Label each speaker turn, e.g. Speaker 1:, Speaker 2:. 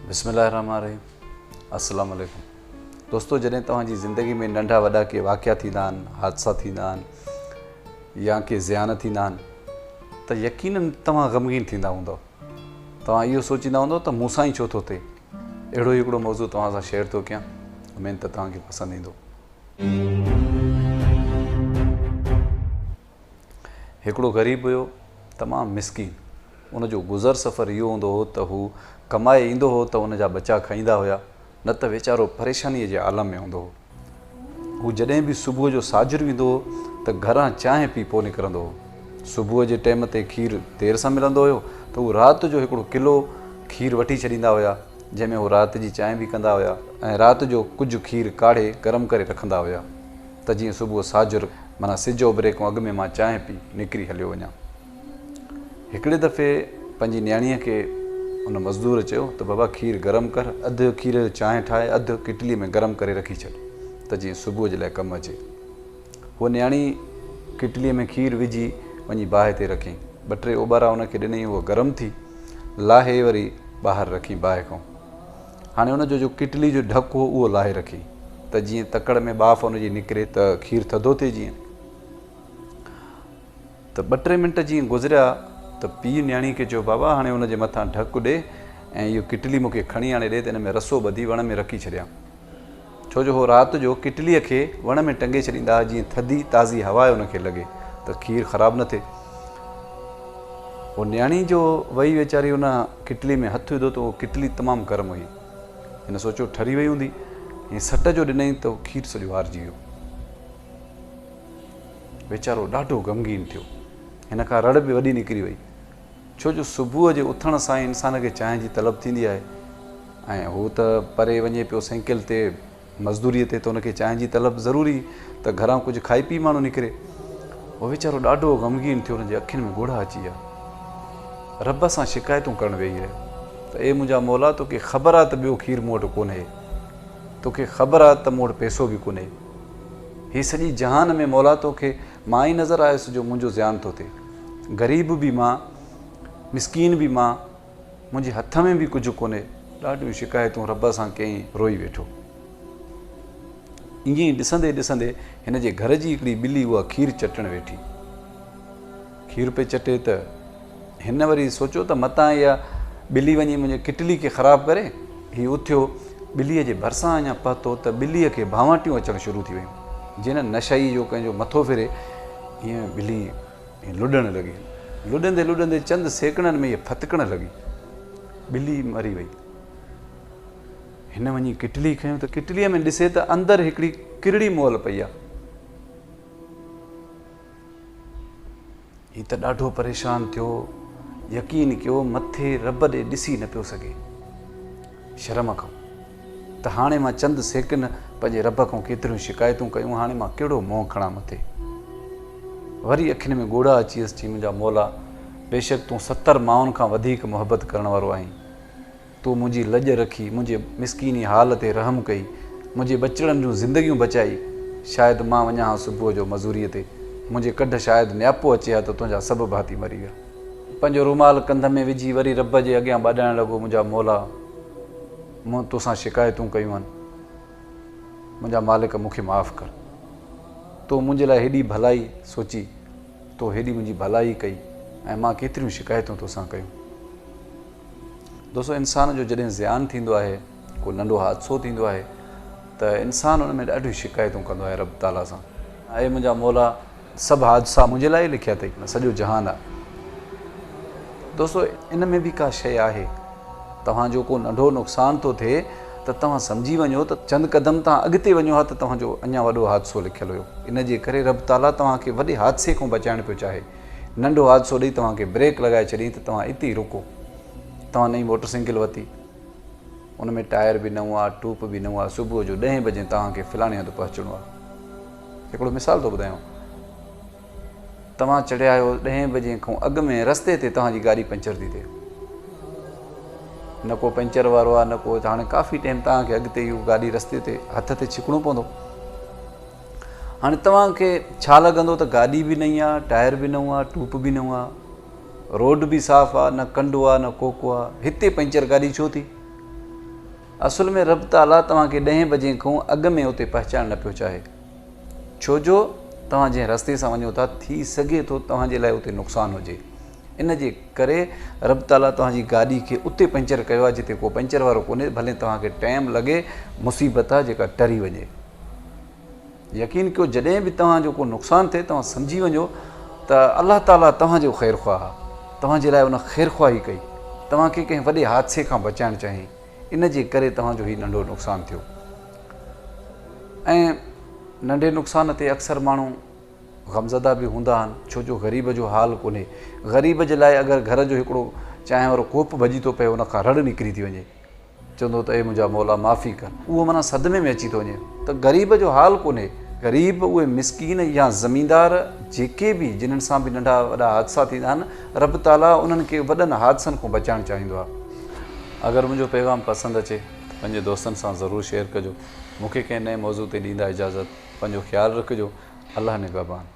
Speaker 1: بسم الله الرحمن الرحيم السلام عليڪم دوستو جڏهن توهان جي زندگي ۾ ننڍا وڏا ڪي واقعا ٿيندا آهن حادثا ٿيندا آهن يا ڪي زيان ٿيندا آهن ته يقينن توهان غمگين ٿيندا هوندو توهان اهو سوچيندا هوندو ته مون سان ئي ڇو ٿو ٿئي اهڙو هڪڙو موضوع توهان سان شيئر ٿو ڪيان اميد ته توهان کي پسند ايندو هڪڙو غريب هيو، تمام مسڪين. ان جو گذر سفر اهو هوندو هو ته هو ڪمائي ايندو هو ته ان جا ٻچا کائيندا هيا، نه ته ويچارو پريشانيء جي عالم ۾ هوندو هو. هو جڏهن به صبح جو ساجھرو ايندو هو ته گھران چانهه پي پوء نڪرندو هو. صبح جي ٽيم تي کير دير سان ملندو هيو ته هو رات جو هڪڙو ڪلو کير وٺي ڇڏيندا هيا، جنهن ۾ هو رات جي چانهه به ڪندا هيا ۽ رات جو ڪجھه کير ڪاڙهي گرم ڪري رکندا هيا. ته جيئن صبح ساجھر معنيٰ سج اوڀري کان اڳ ۾ مان چانهه پي نڪري هليو وڃان. هڪڙي دفعي پنهنجي نياڻيء کي ان مزدور چيو ته بابا کير گرم ڪر، اڌ کير جو چانهه ٺاهي اڌ ڪٽلي ۾ گرم ڪري رکي ڇڏ ته جيئن صبح جي لاء ڪم اچي. هوء نياڻي ڪٽليء ۾ کير وجھي وڃي باهه تي رکيائين. ٻه ٽي اوٻارا ان کي ڏنائين، هوء گرم ٿي، لاهي وري ٻاهر رکيائين باهه کان. هاڻي ان جو جو ڪٽلي جو ڍڪ هو اهو لاهي رکي ته جيئن تڪڙ ۾ ٻاڦ ان جي نڪري ته کير ٿڌو ٿئي جيئن ته ٻه ٽي منٽ جيئن گذريا ته پيء نياڻي کي چيو بابا هاڻي ان جي مٿان ڍڪ ڏي ۽ اهو ڪٽلي مون کي کڻي آڻي ڏي ته ان ۾ رسو ٻڌي وڻ ۾ رکي ڇڏيان. ڇو جو هو رات جو ڪٽليء کي وڻ ۾ ٽنگي ڇڏيندا ها جيئن ٿڌي تازي هوا ان کي لڳي ته کير خراب نه ٿئي. هو نياڻي جو وئي ويچاري ان ڪٽلي ۾ هٿ وڌو ته اهو ڪٽلي تمام گرم هئي. هن سوچيو ٺري وئي هوندي ۽ سٽ جو ڏنئين ته کير سڄو هارجي ويو. ويچارو ڏاڍو غمگين ٿيو. هن کان رڙ به وڏي نڪري وئي. ڇو جو صبح جي اٿڻ سان ئي انسان کي چانهه جي طلب ٿيندي آهي ۽ هو ته پري وڃي پيو سينڪل تي مزدوريء تي ته ان کي چانهه جي طلب ضروري ته گهران ڪجهه کائي پي ماڻهو نڪري. هو ويچارو ڏاڍو غمگين ٿيو، هن جي اکين ۾ ڳوڙها اچي ويا. رب سان شڪايتون ڪرڻ ويهي رهيو ته اي منهنجا مولا توکي خبر آهي ته ٻيو کير مون وٽ ڪونهي، توکي خبر آهي ته مون وٽ پئسو به ڪونهي. هي سڄي جهان ۾ مولا توکي مان ئي نظر آيس جو منهنجو زيان ٿو ٿئي. غريب به مان، مسڪين به مان، منهنجي هٿ ۾ به ڪجهه ڪونهي. ڏاڍيون شڪايتون رب سان ڪيائين، روئي ويٺو. ائين ئي ڏسندي ڏسندي هن جي گهر جي هڪڙي ٻلي اها کير چٽڻ ويٺي. کير پئي چٽي ته هن وري سوچيو ته متان اها ٻلي وڃي منهنجي ڪٽلي کي خراب ڪري. هي اٿيو، ٻليء جي ڀرسان اڃا پهتو ته ٻليء کي ڀانواٽيون اچڻ شروع ٿي ويون. جي نه نشئي جو ڪنهن جو مٿو ڦري، ايئن ٻلي لڏڻ لڳي. لڏندي لڏندي چند سيڪڙن ۾ هيء ڦٿڪڻ لڳي. ٻلي مري وئي. هن وڃي ڪٽلي کنيو ته ڪٽليء ۾ ڏسي ته اندر هڪڙي ڪرڙي مئل پئي آهي. هي ته ڏاڍو پريشان ٿيو. يقين ڪيو مٿي رب ڏي ڏسي نه پيو سگهي. شرم کان ته هاڻي مان چند سيڪنڊ پنهنجي رب کان ڪيتريون شڪايتون ڪيون هاڻي مان ڪهڙو منهن کڻان مٿي. وري اکين ۾ ڳوڙها اچيس چي منهنجا مولا بيشڪ تون ستر ماڻهن کان وڌيڪ محبت ڪرڻ وارو آهين. تو منهنجي لڄ رکي، منهنجي مسڪيني حال تي رحم ڪئي، منهنجي ٻچڙن جون زندگيون بچائي، شايد مان وڃان ها صبح جو مزوريء تي، منهنجي ڪڍ شايد نياپو اچي ها ته تنهنجا سڀ ڀاتي مري ويا. پنهنجو رومال ڪنڌ ۾ وجهي وري رب جي اڳيان ٻاڏائڻ لڳو، منهنجا مولا! مون توسان شڪايتون ڪيون آهن، منهنجا مالڪ مون کي معاف ڪر. تو منهنجي لاء هيڏي ڀلائي سوچي، تو هيڏي منهنجي ڀلائي ڪئي ۽ مان ڪيتريون شڪايتون توسان ڪيون. دوستو انسان جو جڏهن زيان ٿيندو آهي ڪو ننڍو حادثو ٿيندو آهي ته انسان ان ۾ ڏاڍيون شڪايتون ڪندو آهي رب تعاليٰ سان اي منهنجا مولا سڀ حادثا منهنجي لاء ئي لکيا اٿئي نه سڄو جهان آ دوستو ان ۾ به ڪا شيء آهي توهان جو ڪو ننڍو نقصان ٿو ٿئي ته توهان سمجهي وڃو ته چند قدم توهان اڳتي وڃو ها ته توهان جو اڃا وڏو حادثو لکيل هيو ان جي ڪري رب تعاليٰ توهان کي وڏي حادثي کان بچائڻ پيو چاهي ننڍو حادثو ڏئي توهان کي بريڪ لڳائي ڇڏين ته توهان اتي ئي رڪو. توهان نئين موٽر سائيڪل وتي. ان ۾ ٽائر به نئون آ، ٽوپ به نئون آ. صبح جو ڏهين بجين توهان کي فلاڻي هنڌ پهچڻو آ. هڪڙو مثال ٿو ٻڌايانو. توهان چڙهيا آهيو ڏهين بجين کان اڳ ۾ رستي تي توهان جي گاڏي پنچر ٿي ٿئي. نه ڪو پنچر وارو آ نه ڪو هاڻي ڪافي ٽيم توهان کي اڳتي اهو گاڏي رستي تي هٿ تي ڇڪڻو پوندو. هاڻي توهان کي ڇا لڳندو ته گاڏي به نئين آ، ٽائر به نئون آ، ٽوپ به نئون آ، روڊ به صاف آ، نه ڪنڊو آ نه ڪوڪو آ، هتي پنچر گاڏي ڇو ٿي؟ اصل ۾ رب تعاليٰ توهان کي ڏهين بجي کان اڳ ۾ اتي پهچائڻ نه پيو چاهي، ڇو جو توهان جنهن رستي سان وڃو ٿا ٿي سگهي ٿو توهان جي لاء اتي نقصان هجي، ان جي ڪري رب تعاليٰ توهان جي گاڏي کي اتي پنچر ڪيو آ جتي ڪو پنچر وارو ڪونهي، ڀلين توهان کي ٽيم لڳي، مصيبت آ جيڪا ٽري وڃي. يقين ڪيو جڏهن به توهان جو ڪو نقصان ٿئي توهان سمجهي وڃو ته الله تعاليٰ توهان جو خير خواه آهي توهان جي لاء ان خير خواهي ڪئي توهان کي ڪنهن وڏي حادثي کان بچائڻ چاهين ان جي ڪري توهان جو هي ننڍو نقصان ٿيو ۽ ننڍي نقصان تي اڪثر ماڻهو غمزده به هوندا آهن ڇو جو غريب جو حال ڪونهي غريب جي لاء اگر گهر جو هڪڙو چانهه وارو ڪوپ ڀڄي ٿو پئي ان کان رڙ نڪري ٿي وڃي چوندو ته اي منهنجا مولا معافي ڪر. اهو معنيٰ صدمي ۾ اچي ٿو وڃي ته غريب جو حال ڪونهي. غريب، اهي مسڪين يا زميندار جيڪي به جنن سان به ننڍا وڏا حادثا ٿيندا آهن، رب تعاليٰ انهن کي وڏن حادثن کان بچائڻ چاهيندو آهي. اگر منهنجو پيغام پسند اچي ته پنهنجي دوستن سان ضرور شيئر ڪجو. مون کي ڪنهن نئين موضوع تي ڏيندا اجازت. پنهنجو خيال رکجو. الله نگهبان.